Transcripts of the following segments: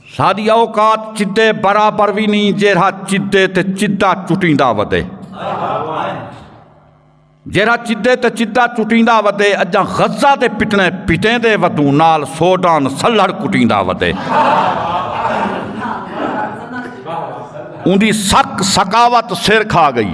ساڈی اوقات چدے برابر بھی نہیں جیرا چدے تے چدا چٹیندا ودے جیرا چدے تے چدا چٹیندا ودے اجا غزہ دے پٹنے پٹیں دے ودوں نال سوڈان سلڑ کٹیندا ودے اندی سک سکاوت سر کھا گئی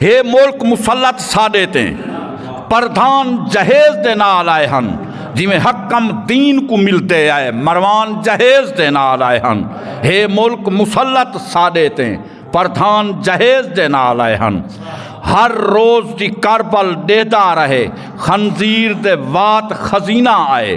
ہے ملک مسلط ساڈے تے پردھان جہیز دے نال آئے ہن جویں حکم دین کو ملتے آئے مروان جہیز دے نال آئے ہن ہے ملک مسلط ساڈے تے پردھان جہیز دے نال آئے ہن ہر روز دی کربل ڈیدا رہے خنزیر دے وات خزینہ آئے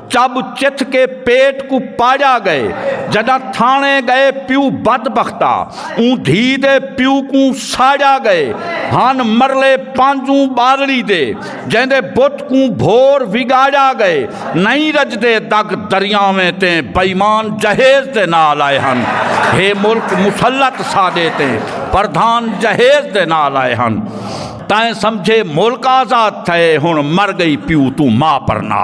چب چتھ کے پیٹ کوں پاجا گئے جڈاں تھانے گئے پیو بد بختا اوں دھی دے پیو کوں ساجا گئے ہن مرلے پانجوں بالڑی دے جیندے بت کوں بھور وگاجا گئے نئیں رجدے دگ دریاویں تے بئیمان جہیز دے نال آئے ہن ہے ملک مسلط ساڈے تے پردھان جہیز دے نال آئے ہن تائیں سمجھے ملک آزاد تھئے ہن مر گئی پیو توں ماں پرنا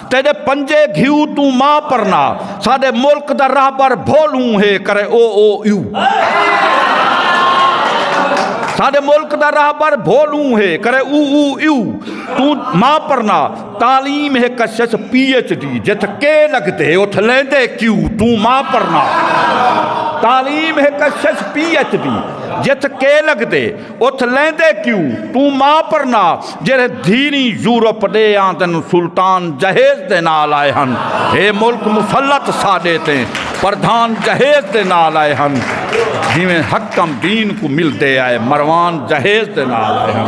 تیڈے پنجے گھیو توں ما پرنا ساڈے ملک دا رہبر بھول ہوں ہے کرے او او یو ساڈے ملک دا رہبر بھول ہوں ہے کرے او او یو توں ما پرنا تعلیم ہے کشش پی ایچ ڈی جت کے لگتے اٹھ لیندے کیو توں ما پرنا تعلیم ہے کشش پی ایچ ڈی جت کے لگتے اتھ لیندے کیو توں ما پرنا جیرے دھیری یورپ دے آندن سلطان جہیز دے نال آئے ہن اے ملک مسلط ساڈے تے پردھان جہیز دے نال آئے ہن جیویں حکم دین کو ملدے آئے مروان جہیز دے نال آئے ہن